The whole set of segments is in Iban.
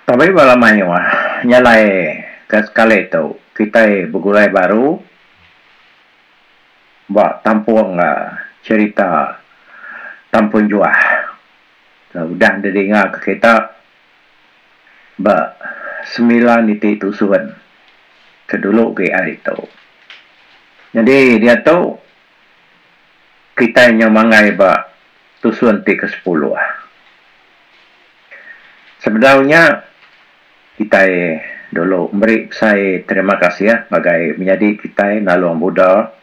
Pabrik bala mayuh nya alai ke sekali tu kitai begulai baru ba tampung ga cherita tampung juah ke udah didinga ke kita ba semilan iti tusun ke dulu gi ari tu. Nyadi diatu kitai nyau manggai ba tusun ti kesepuluh. Sebedau nya, kitai dulu meri besai terima kasih ngagai menyadi kitai Nalung Buda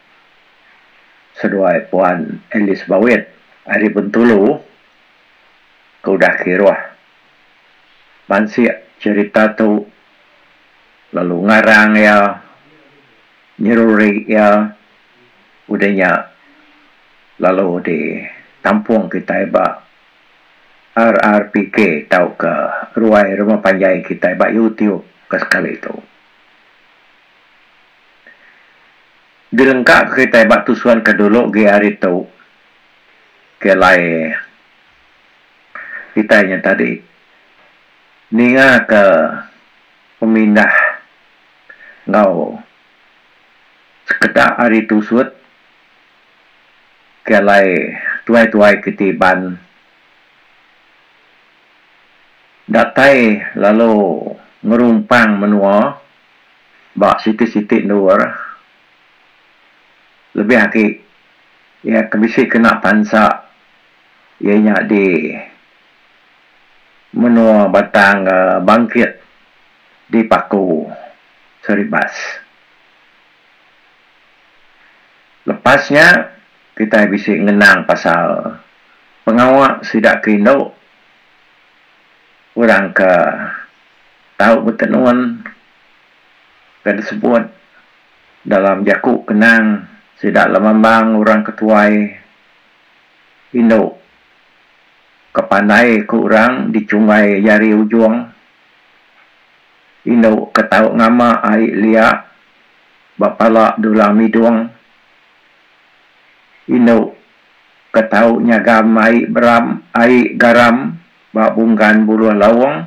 seduai Puan Alice Bawit ari Bentulu ke udah kiruh mansik cherita tu lalu ngarang iya, nyeruri iya. udah nya lalu di tampung kitai ba RRPK tauka ruai rumah panjai kitai ba YouTube ke sekali tu. Dilengka ka kitai ba tusun ke dulu gi hari tu ke alai kitai nya tadi ninga ka pemindah enggau Sekeda ari tusut ke alai tuai-tuai kiti Iban datai lalu ngerumpang menua ba siti-siti endur lebih agi iya ke bisi kena pansa iya nya di menua Batang Bangkit di Paku. seri bas. Lepas nya kitai bisi ngenang pasal pengawa sida ke indu orang ke tau betenun ke disebut dalam jaku kenang sida lemambang orang ke tuai indu ke pandai ku orang dichunggai jari ujung. Indu ke tau ngama ai lia ba pala dulang midung. Indu ke tau nyagam ai beram ai garam ba bunggan buluh laung.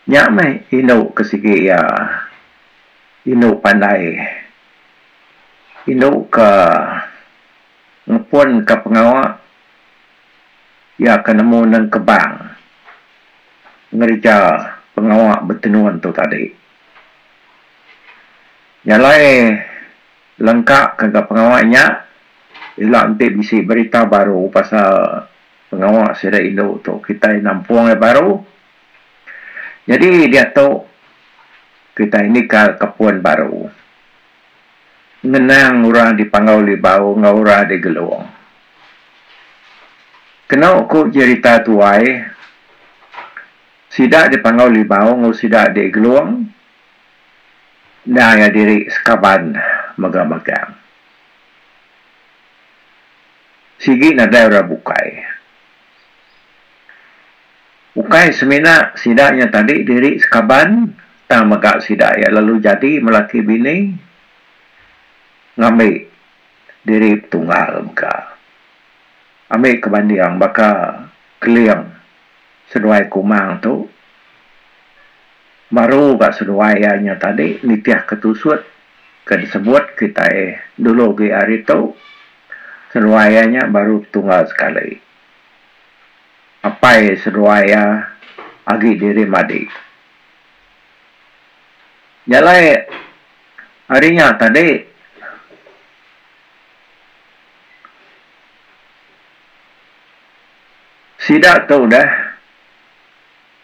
Nya meh indu ke sigi iya. Indu pandai. Indu ke ngepunka pengawa Iya ke nemu nengkebang ngereja pengawa betenun tu tadi. Nyalai lengka ke ga pengawa nya ila enti bisi berita baru pasal pengawa sida indu tu kitai nampung iya baru. Nyadi diatu kitai nikal ka pun baru. Ngenang orang di Panggau Libau enggau orang di Gelong. Keno ku jerita tuai, sida di Panggau Libau enggau sida di Gelong enda iya diri sekaban mega magang. Sigi nadai orang bukai. Ukai semina sida nya tadi diri sekaban tang mega sida iya lalu jadi melaki bini ngambi diri betunggal mega. Ambi ke banding baka Keling seduai Kumang tu baru ga seduai iya nya tadi nitihka tusut ke disebut kitai dulu agi ari tu seduai iya nya baru betunggal sekali. apai seduai iya agi diri madi. Nya alai ari nya tadi sida tu udah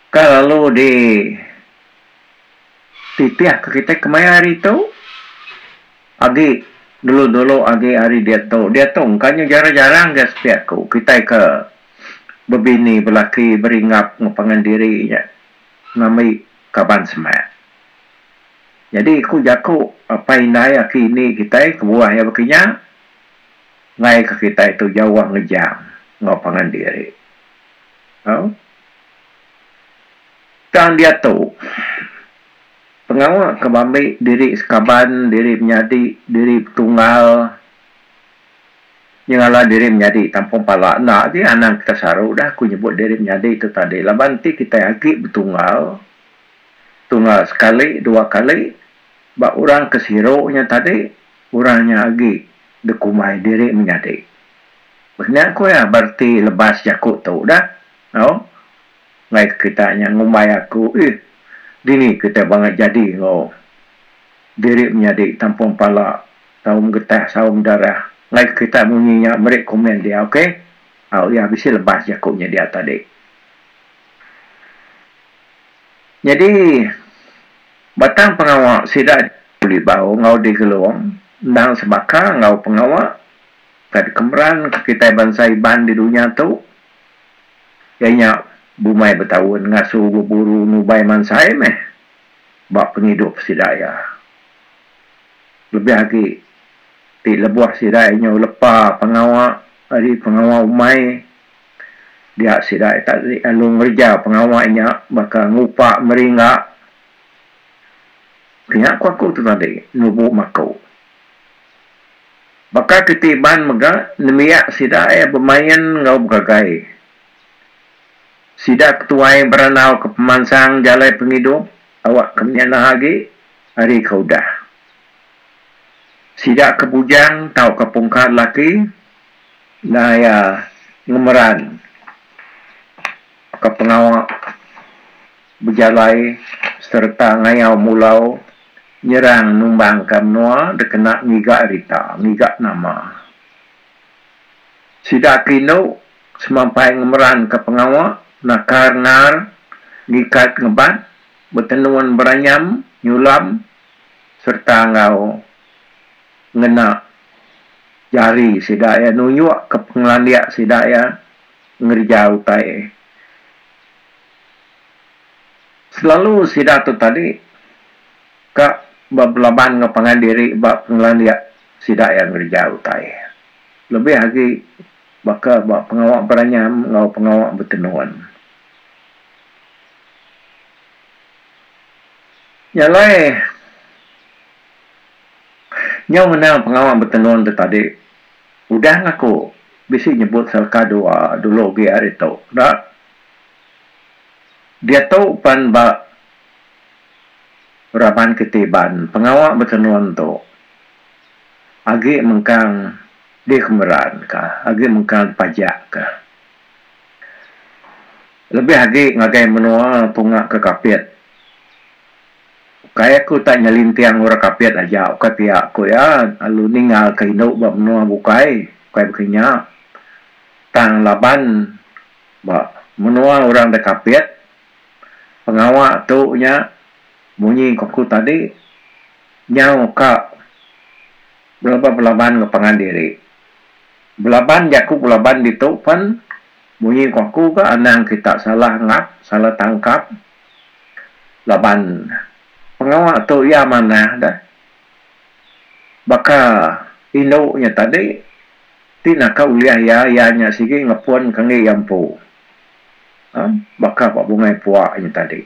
ka lalu di titih ka kitai kemaya hari tu. Agi dulu-dulu agi ari diatu, diatu engka nya jarang-jarang ga sepiak ku kitai ke bebini belaki beringap enggau pangan diri nya ngambi kaban semak. Jadi ku jaku apai indai aki indi kitai kebuah iya baka nya ngaika kitai tu jauh ngejang enggau pangan diri. Tang diatu. Pengawa ke bambi diri sekaban diri menyadi diri betunggal nyengala diri menyadi tampa pala enda ji anang kita saru dah aku nyebut diri menyadi tu tadi laban enti kitai agi betunggal tunggal sekali dua kali ba orang ke siru nya tadi orang nya agi dikumbai diri menyadi. Baka nya ku iya bereti lebas jaku tu dah tau. Like kitai nya ngumbai aku ih dini kitai bangat jadi enggau diri menyadi tampung pala saum getah saum darah like kitai munyi nya meri komen dia ok au iya bisi lebas jaku nya dia tadi nyadi batang pengawa sida dibuli bau enggau digelung endang sebaka enggau pengawa ka dikemeran ka kitai bansa iban di dunya tu. Iya nya bumai betaun ngasu beburu nubai mansai meh ba pengidup sida iya. Lebih agi ti lebuh sida iya nyau lepa pengawa ari pengawa umai dia sida iya tak lalu ngereja pengawa nya baka ngupa meri engga. Kinya ku aku tu tadi nubu maku. Baka ke ti Iban mega nembiak sida iya bemain enggau begagai. Sida ke tuai berandauka pemansang jalai pengidup awakka menyana agi ari ke udah. Sida ke bujang tauka pungka lelaki enda iya ngemeran ka pengawa. bejalai sereta ngayau mulau nyerang numbangka menua dikena ngiga rita, ngiga nama. Sida ke indu semampai ngemeranka pengawa nakar ngar, ngikat ngebat, betenun beranyam, nyulam sereta enggau ngena jari sida iya nunjukka pengelandik sida iya ngereja utai. Selalu sida tu tadi ka belaban enggau pangan diri ba pengelandik sida iya ngereja utai lebih agi baka ba pengawa beranyam enggau pengawa betenun. Nya alai nyau ngena pengawa betenun tu tadi udah ngaku bisi nyebut selaka dua dulu agi ari tu enda Diatu pan ba raban Ketiban pengawa betenun tu agi mengkang dikemeran ka agi mengkang dipajak ka lebih agi ngagai menua tunga ke Kapit ukai aku tak nyelinting orang Kapit aja ukai pia aku iya lalu ninga ka indu ba menua bukai bukai baka inya tang laban Ba menua orang da Kapit, pengawa tu nya munyi ku aku tadi nyau ka belaban belaban enggau pangan diri. Belaban jaku belaban ditu pen munyi ku aku ke anang kita salah ngap, salah tangkap laban pengawa tu iya manah deh baka indu nya tadi Ti naka ulih iya iya nya sigi ngepun ke enggi iya empu. Aa baka ba bungai pua nya tadi.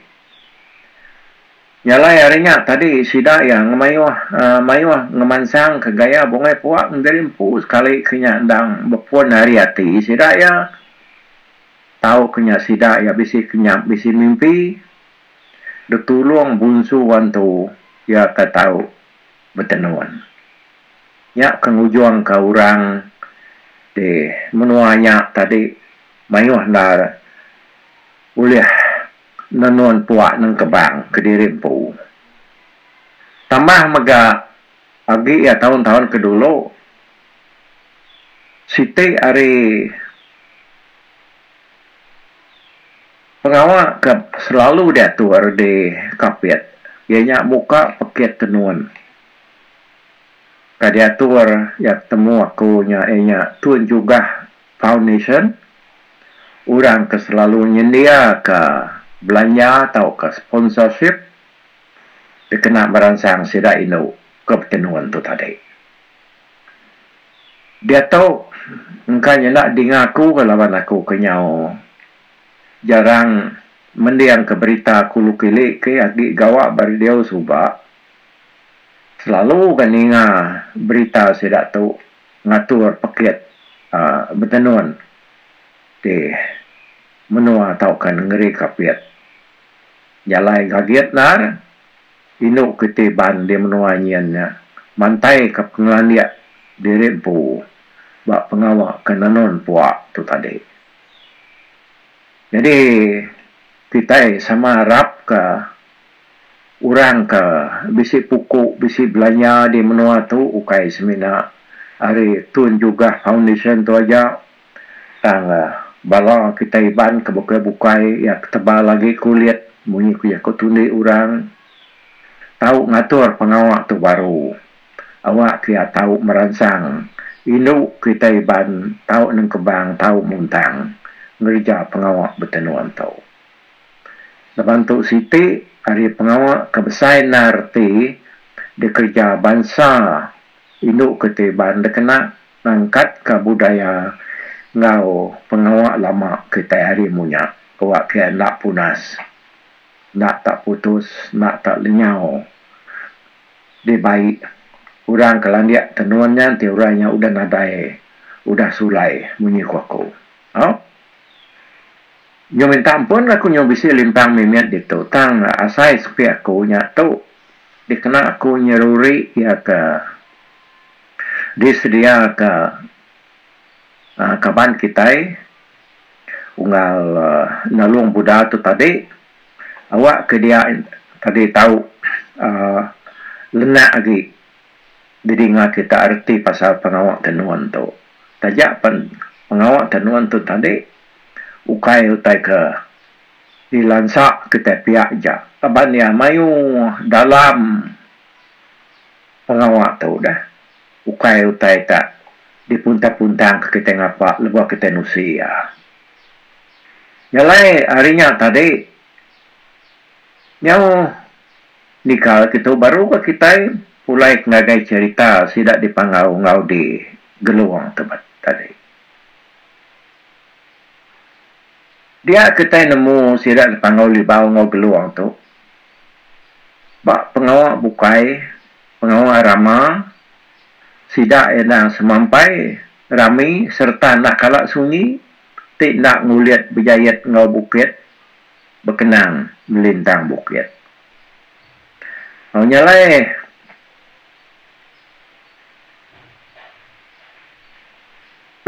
Nyalai ari nya tadi sida iya ngemayuh aa mayuh ngemansang ke gaya bungai pua diri empu sekali ke nya endang bepun ari ati sida iya tau ke nya sida iya bisi kenyap bisi mimpi ditulung bunsu wan tu iya ka tau betenun. Nya ke ngujungka orang di menua nya tadi mayuh enda ulih nenun puak nengkebang kediri empu. Tambah mega agi iya taun-taun ke dulu siti ari. Pengawa ke selalu diatu Rudi Kapit iya nya muka pekit tenun. Ka diatur iya ke temu aku nya iya nya Tun Jugah Foundation orang ke selalu nyendiaka belanja tauka sponsorship dikena meransang sida indu ke betenun tu tadi. Diatu engka nyenda dinga aku laban aku ke nyau. Jarang mendingka berita kulu kili ke agi gawa ba radio suba selalu ga ninga berita sida tu ngatur pekit uhh betenun ti menua tauka nengeri kapit. Jalai gagit endar indu ke ti ban di menua nyin nya mantaika pengelandik diri empu ba pengawa ke nenun pua tu tadi. Nyadi kitai sama arapka orang ke bisi puku bisi belanja di menua tu ukai semina ari Tun Jugah Foundation tu aja tang bala kitai Iban ke bukai bukai iya ke tebal agi kulit munyi ku iya ke tundi orang tau ngatur pengawa tu baru. awak kia tau meransang indu kita iban tau nengkebang tau muntang ngereja pengawa betenung tu. Laban tu siti ari pengawa ke besai enda reti dikereja bansa indu kita iban dikena ngangkatka budaya enggau pengawa lama kita hari munya awak kia enda punas enda tak putus enda tak lenyau. Deh bai. Orang ke landik tenun nya enti orang nya udah nadai udah sulai munyi ku aku. Au. Nyau minta ampun aku nyau bisi limpang mimit ditu tang asai sepi aku nya tu dikena aku nyeruri iya ke disedia ke aaa kaban kitai unggal aaa nulung buda tu tadi. Awak ke dia tadi tau uhh lenak agi didinga kita reti pasal pengawa tenun tu. Taja pen pengawa tenun tu tadi ukai utai ke dilansa kitai pia aja laban ia mayuh dalam pengawa tu deh ukai utai tak dipuntang-puntang kitai ngapa lebuh kitai nusi ia. Jalai ari nya tadi, nyau nikal kitu baru ga kitai pulai ke ngagai cherita sida dipangau enggau di Gelong tebet tadi. Dia kitai nemu sida dipangau Libau enggau Gelong tu ba pengawa bukai, pengawa rama sida enda semampai rami sereta enda kala sunyi ti enda ngulit bejait enggau bukit bekenang melintang bukit. Au nya alai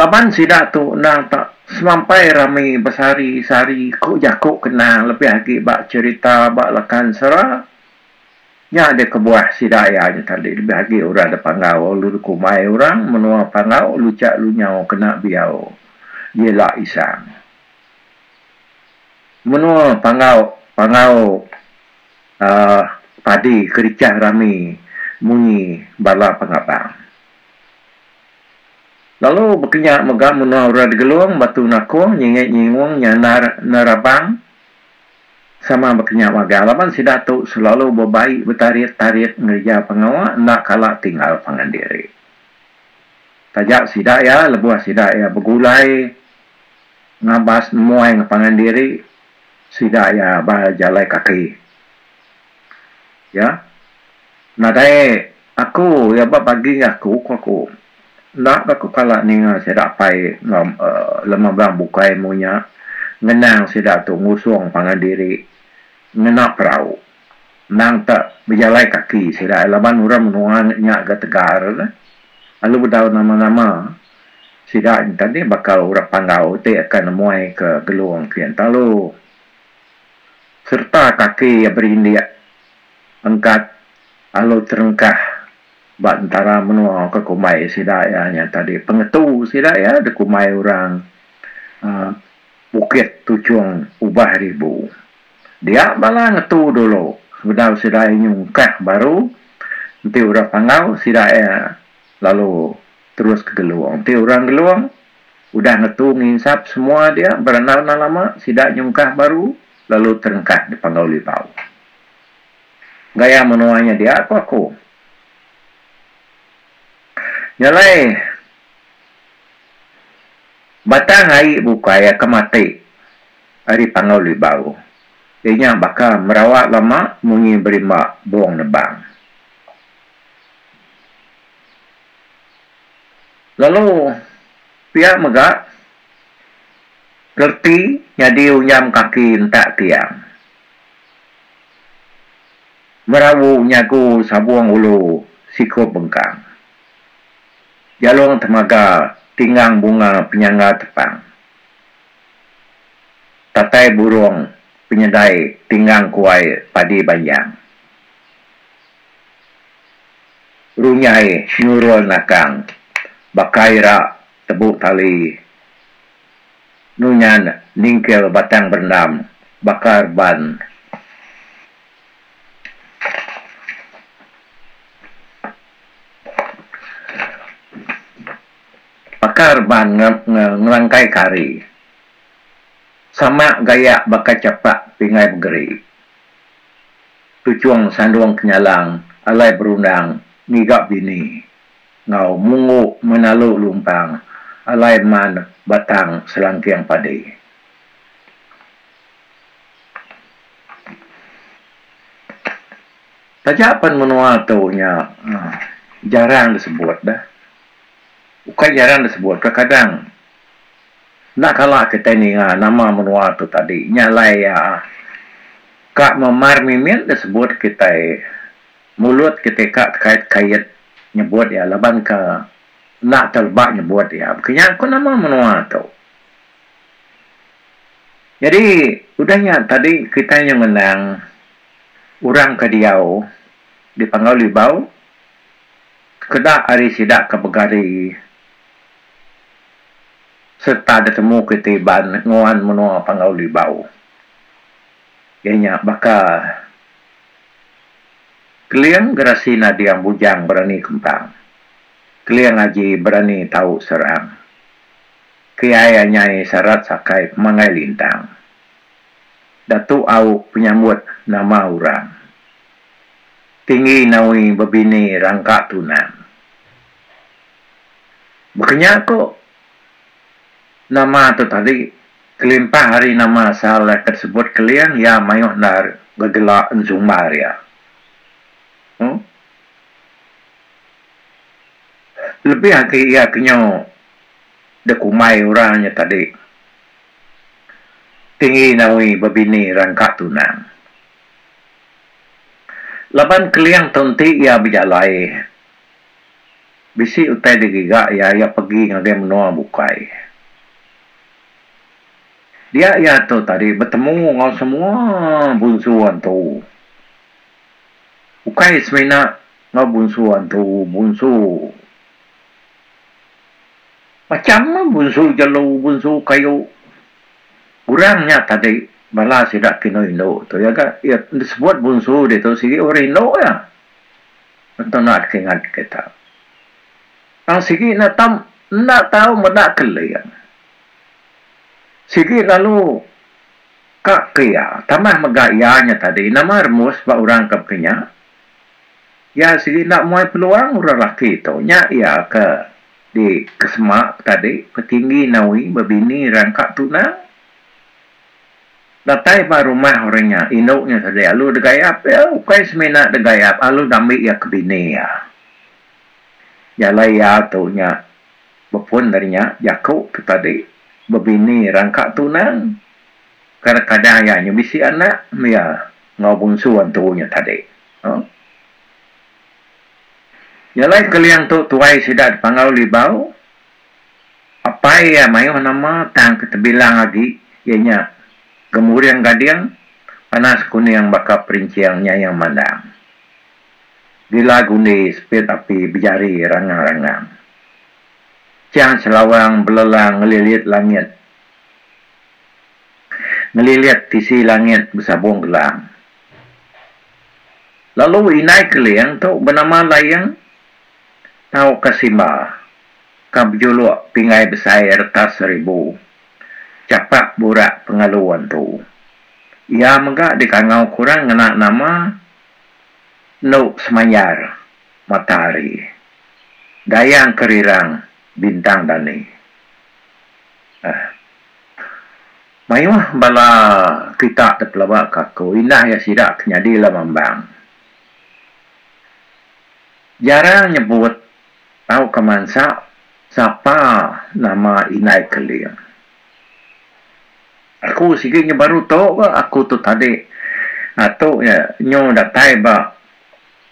laban sida tu endang tak semampai rami besari-sari ku jaku kenang lebih agi ba cherita ba Lakansera Nya aja kebuah sida iya aja tadi lebih agi orang da Panggau lu dikumbai orang menua Panggau luchak lunyau kena biau jela isang. Menua Panggau Panggau uhh padi kerichah rami munyi bala pengabang. Lalu bekenya mega menua orang Digelong, Batu Nakong, Nyingit Nyingung, Nyandar Nerabang. Sama baka nya magang laban sida tu selalu bebai betarit-tarit ngereja pengawa enda kala tinggal pangan diri. Taja sida iya lebuh sida iya begulai ngabas nemuai ngepangan diri sida iya ba jalai kaki. Iya nadai aku iya ba bagi enggau aku ku aku. Enda ba ku kala ninga sida apai enggau lema orang bukai amu nya ngenang sida tu ngusung pangan diri ngena perau endang te bejalai kaki sida laban orang menua nya ga tegar neh lalu bedau nama-nama sida nyengkang dih bakal orang Panggau ti akan nemuai ke Gelong Pian Talu. sereta kaki iya berindik engkat lalu terengkah ba entara menua ke kumbai sida iya nya tadi pengetu sida iya dikumbai orang aaa Bukit Tuchong Ubah Ribu. Dia bala ngetu dulu sebedau sida iya nyungkah baru enti orang Panggau sida iya lalu terus ke Gelong. Enti orang Gelong Udah ngetu nginsap semua dia berandau endang lama, sida nyungkah baru lalu terengkah dipanggau Libau. Gaya menua nya dia ku aku. Nya alai batang ai bukai aka mati ari panggau Libau. Iya nya baka merawa lama munyi berimba bong nebang. Lalu pia mega gerti nyadi unyam kaki entak tiang. Merawu nyagu sabung ulu sikup bengkang. Jalung temaga tinggang bunga penyangga tepang. Tatai burung penyedai tinggang kuai padi banjang. Runyai Nurul Nakang baka ira tebu tali nunyan ningkil batang berendam baka reban baka reban ngelangkai kari sama gayak baka chapak pingai begeri. Tuchong sandung kenyalang alai berundang ngiga bini enggau munggu menalu lumpang alai man batang selangking padi. Taja pan menua tu nya jarang disebut dah. Ukai jarang disebut, kadang-kadang Enda kala kitai ninga nama menua tu tadi nya alai iya ka memar mimit dia sebut kitai mulut kitai ka kait kait nyebut iya laban ka enda teleba nyebut iya baka nya ko nama menua tu jadi udah nya tadi kitai nyau ngenang orang ka diau di panggau libau keda ari sida ka begari sereta ditemu kitai Iban nguan menua Panggau Libau iya nya baka Keling Gerasi Nading Bujang Berani Kempang, Keling Aji Berani Tau Serang, Kiai Anyai Sarat Sakai Pemanggai Lintang, Datu Au Penyambut Nama Orang, Tinggi Nawi Bebini Rangka Tunang. Baka nya ku nama tu tadi, kelimpah ari nama asal iya ke disebut Keling, iya mayuh enda begelak ensumbar iya. Huh. Lebih agi iya ke nyu dikumbai orang nya tadi tinggi nawi bebini rangka tunang. Laban Keling tu enti iya bejalai. Bisi utai dia giga iya, iya pegi ngagai menua bukai. Dia iya tu tadi betemu enggau semua bunsu antu. Ukai semina enggau bunsu antu, bunsu macam meh bunsu jelu, bunsu kayu. Orang nya tadi bala sida ke indu-indu tu iya ga iya disebut bunsu ditu sigi orang indu iya. Ento naat ke ngat ke tau. Tang sigi enda tau enda tau meda keling. Sigi lalu ka ke iya tambah mega iya nya tadi nama remus ba orang ke baka nya. Iya sigi enda muai peluang orang laki tu nya iya ke di kesema tadi petinggi nawi bebini rangka tunang. Datai ba rumah orang nya, indu nya sedik alu degayap iya, ukai semina degayap, alu ngambi iya ke bini iya. Jalai iya tu nya bepun ari nya, jaku tu tadi, bebini rangka tunang, kadang-kadang iya nya bisi anak meh iya enggau bungsu antu nya tadi. Huh. Jalai Keling tu tuai sida dipanggau Libau. Apai iya mayuh nama tang ti tebilang agi iya nya Gemuring Gading, Panas Kuning baka Perincing Nyayang Mandang, Gila Gundi, Sepit Api Bejari Rangang Rangang, Chang Chelawang Belelang Ngelilit Langit Ngelilit Tisi Langit Besabung Gelang. Lalu Indai Keling tu benama Laing. Tau ka simba, ka bejuluk pingai besai retas seribu. Chapak burak pengalu antu. Iya mega dikangau kurang ngena nama Endu Semayar Matahari, Dayang Kerirang Bintang Dani. Aa. Mayuh bala kitak ti pelaba ka aku indah iya sidak ke nyadi lama embang. Jarang nyebut tauka mansa sapa nama indai Keling. Aku sigi nya baru tu ga aku tu tadi ngatu nya nyu datai ba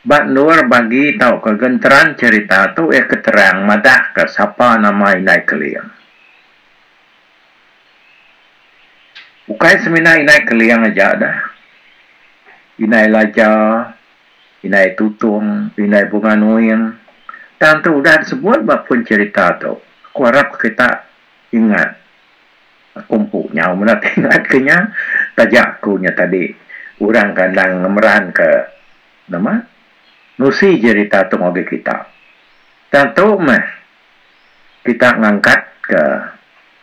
ba endur bagi tauka genteran cherita tu iya ke terang madahka sapa nama indai Keling. Ukai semina indai Keling aja dah. Indai Laja. indai tutung, indai bunga nuing, tang tu udah disebut ba pun cherita tu, aku arap kita ingat, aku empu nyau meda ti ingat ke nya, taja aku nya tadi orang ke endang ngemeran ke nama nusi cherita tu ngagai kita, tang tu meh kita ngangkat ke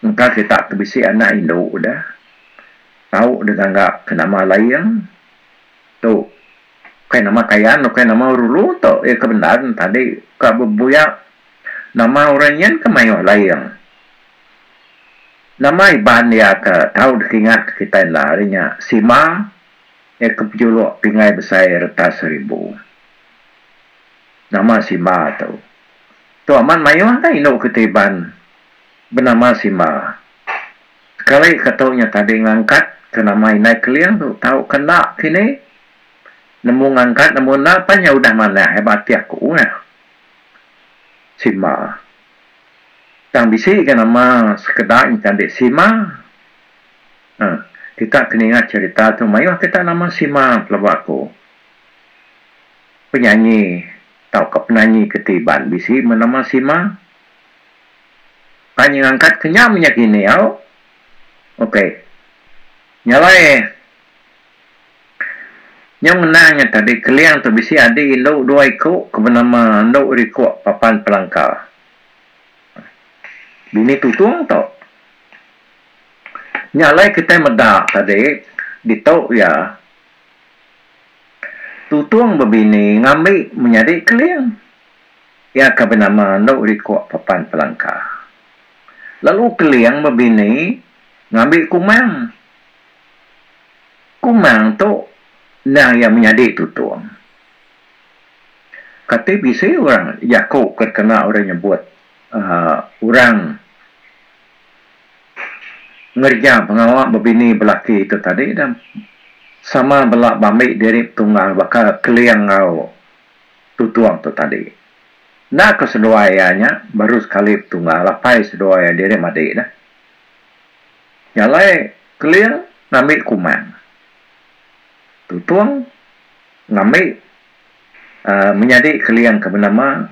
engka kita ti bisi anak indu udah tau degangga ke nama Laing. Tu. Ukai nama Kayan, ukai nama Rulu tu iya ke bendar entadi ka bebuya nama orang nyin ke mayuh laing. Nama Iban iya ke tau dikingat kitai enda ari nya Sima iya ke pejuluk Pingai Besai Retas Seribu. Nama Sima tu. Tu amat mayuh ka indu kitai Iban benama Sima. Sekali ke tu nya tadi ngangkat ke nama indai Keling tu tau ke enda kini nemu ngangkat nemu enda pan nya udah manah ai ba ati aku ngah Sima tang bisi ga nama sekeda nya tadi Sima uhh kita ke ninga cerita tu mayuh kita nama Sima pelaba aku penyanyi tau ke penanyi ke ti Iban bisi nama Sima. Tanya angkat kenyam nya kini au. Ok. Nya alai nyau ngenang nya tadi Keling tu bisi adi indu dua iku ke benama Endu Rikuk Papan Pelangka. Bini tutung tu. Nya alai kitai meda tadi ditu iya tutung bebini ngambi menyadi Keling. Iya ke benama Endu Likuk Pepan Pelangka lalu Keling bebini ngambi Kumang. Kumang tu endang iya menyadi tutung. Kati bisi orang jaku ke dikena orang nyebut uhh orang ngereja pengawa bebini belaki tu tadi dah sama bela bambi diri betunggal baka Keling enggau Tutung tu tadi. Enda ko seduai iya nya baru sekali betunggal apai seduai iya diri madi dah. Jalai Keling ngambi Kumang. Tutung ngambi uhh menyadi Keling ke benama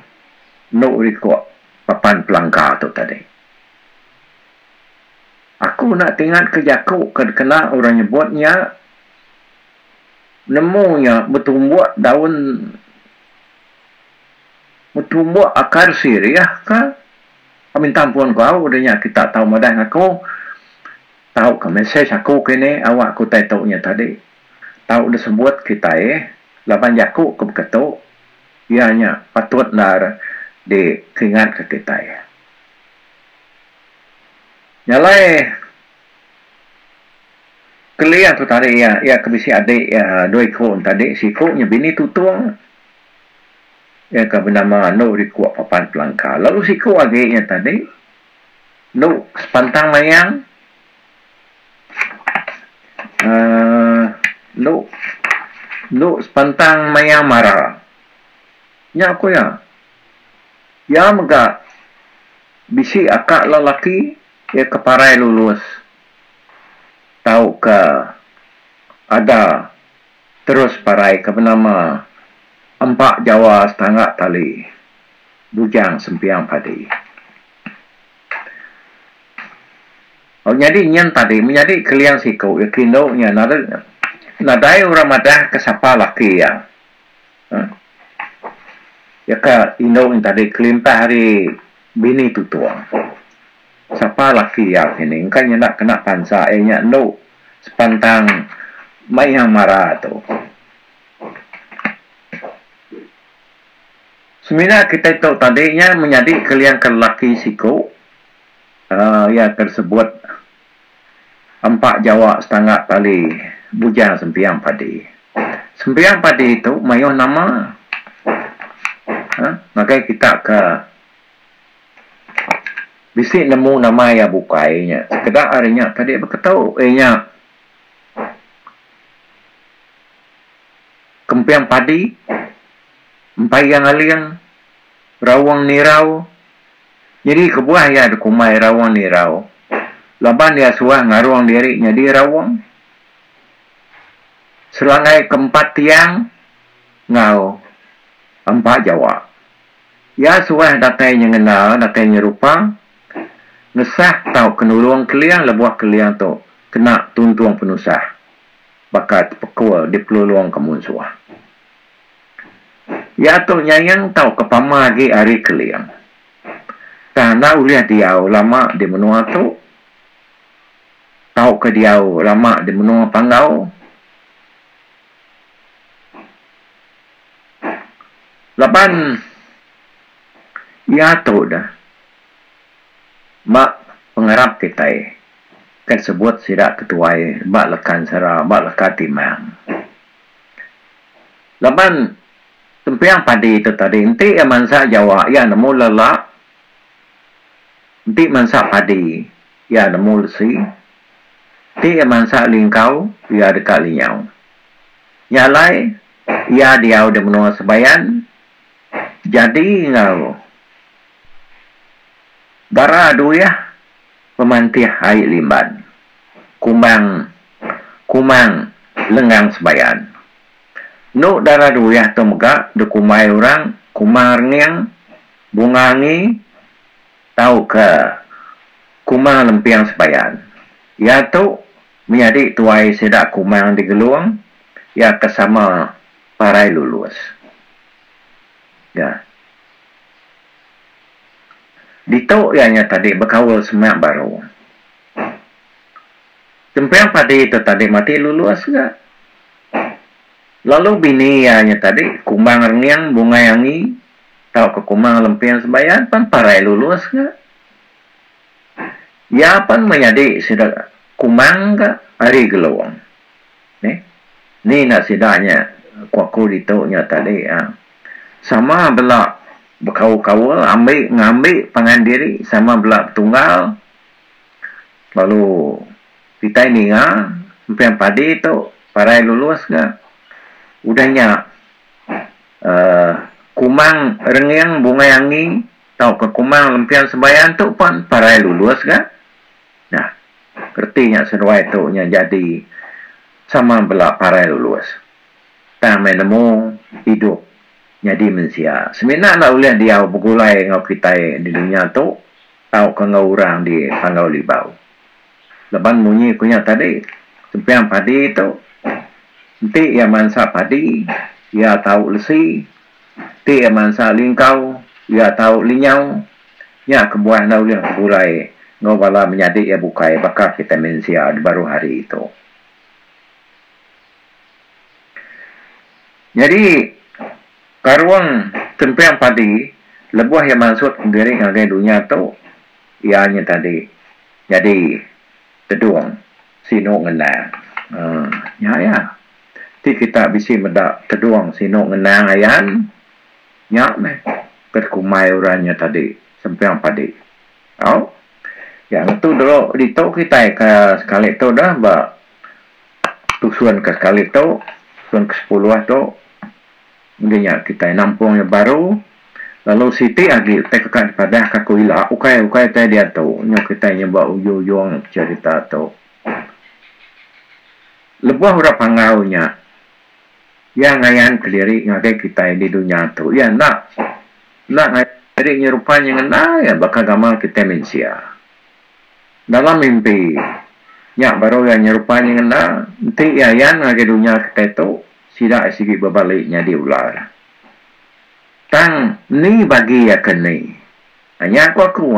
enu ri ko Papan Pelangka tu tadi. Aku enda tingat ke jaku ke dikena orang nyebut nya. Nemu nya betumbuk daun betumbuk akar sirih ka kami ntang pun ku au udah nya kita tau madah ngaku tau ka mesej aku kini awak ku utai tu nya tadi tau disebut kitai laban jaku ke baka tu iya nya patut endar dikingat ka kitai nyalai Keli aku tadi iya, iya ke bisi adik iya dua iku entadi siku nya bini tutung. Iya ke benama anu riku papan pelangka lalu siku agi iya tadi anu sepantang mayang uhh anu anu sepantang mayang mara. Nya ku iya, iya mega bisi aka lelaki. Iya ke parai lulus tauka ada terus parai ke benama Empa Jawa Setangga Tali Bujang Sempiang Padi. Lalu nyadi nyin tadi menyadi Keliang Siku iya ke indu nya nadai orang madah ke sapa laki iya. Iya ke indu nya tadi kelimpah ari Bini tutua. Sapa laki iya ke ni engka nyenda kena pansa iya nya endu sepantang meh iya mara tu. Semina kitai tu tadi nya menyadi ke liang ke lelaki siku aaa iya ke disebut Empa jawa setangga tali bujang sempiang padi. Sempiang padi tu mayuh nama uhh ngagai kita ke bisi nemu nama iya bukai nya sekeda ari nya tadi beketu eh nya kempiang padi, empai yang aling, raung nirau. Nyadi kebuah iya dikumbai Rawong Nirau laban iya suah ngarung diri nyadi Rawong. Selanggai ke empat tiang enggau empa jawa. Iya suah datai nyengena, datai nyerupa, ngesah tauka nulung Keling lebuh Keling tu kena tuntung penusah baka tepekul dipelulungka munsuh. Iya tu nyayang tauka pama agi ari Keling. Tang enda ulih diau lama di menua tu tauka diau lama di menua Panggau laban iya tu deh ba pengarap kitai ke sebut sida ketuai ba Lekan Sera, ba Leka Timang. Laban tempiang padi tu tadi enti iya mansa jawa iya nemu lala enti mansa padi iya nemu lesi enti iya mansa lingkau iya deka linyau. Nya alai iya diau di menua Sebayan jadi enggau bara duih Pemantih ai limban. Kumang kumang lengang sembayan. Enu dara duih tu mega dikumbai orang kumang renging, bunga angi tauka kumang lemping sembayan. Iya tu menyadi tuai sida kumang di Gelong iya ke sama Parai Lulus. Nya. Ditu iya nya tadi bekaul semak baru. Kempang padi tu tadi mati lulus ga. Lalu bini iya nya tadi kumbang renging bungai angi tauka kumbang lemping sebayan pan parai lulus ga. Iya pan menyadi sida kumbang ga ari Gelong. Neh. Ni enda sida nya ku aku ditu nya tadi ah. Sama bela bekaul-kaul ambi ngambi pangan diri sama bela betunggal lalu kitai ninga empiang padi tu parai lulus ga udah nya uhh kumang renging bungai angi tauka kumang lempian sembayan tu pun parai lulus ga. Nah, reti nya seduai tu nya jadi sama bela parai lulus. Tang meh nemu idup nyadi mensia semina enda ulih diau begulai enggau kitai di dunya tu tauka enggau orang di Panggau Libau. Laban munyi ku nya tadi, sempiang padi tu enti iya mansa padi, iya tau lesi. Ti iya mansa lingkau, iya tau linyau. Nya kebuah enda ulih beburai enggau bala menyadi iya bukai baka kitai mensia dibaruh hari tu. Nyadi, Karung Kemping Padi lebuh iya mansut diri ngagai dunya tu, iya nya tadi nyadi tedung sinu ngendang. Nya iya. ti kita bisi meda tedung sinu ngenang ayan nya meh ke dikumbai orang nya tadi Sempiang Padi. Au nya ngetu dulu ditu kitai ke sekali tu dah ba tusun ke sekali tu tusun ke sepuluh tu enggi nya kitai nampung iya baru lalu siti agi utai kaka dipadah ka ko ila ukai ukai utai diatu nyu kitai nyebut ujung-ujung cerita tu. Lebuh orang Panggau nya, iya ngayan kediri ngagai kitai di dunya tu, iya enda enda ngayan diri nyerupa nya ngena iya baka gamal kitai mensia. Dalam mimpi nya baru iya nyerupa nya ngena, enti iya ayan ngagai dunya kitai tu, sida sigi bebali nyadi ular. Tang ni bagi iya ke ni? Nya ku aku,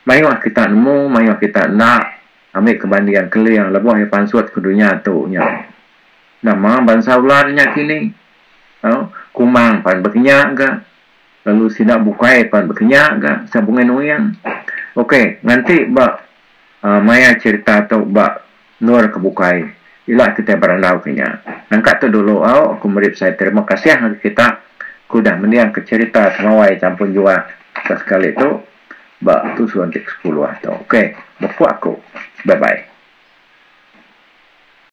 mayuh kita nemu, mayuh kita enda Ambi ke banding Keling lebuh iya pansut ke dunya tu nya. Nama bansa ular nya kini. Au, Kumang pan bekenya ga. Lalu sida bukai pan bekenya ga sida Bungai Nuing. Okey, nganti ba aaa maya cherita tu ba endur ke bukai ila kitai berandau ke nya. Nangka tu dulu au, aku meri besai terima kasih ngagai kita ku udah mendingka cherita Temawai Champun Jua ke sekali tu. Ba tu suba enti ke sekuluh tu. Okay. Beku aku. Bye bye.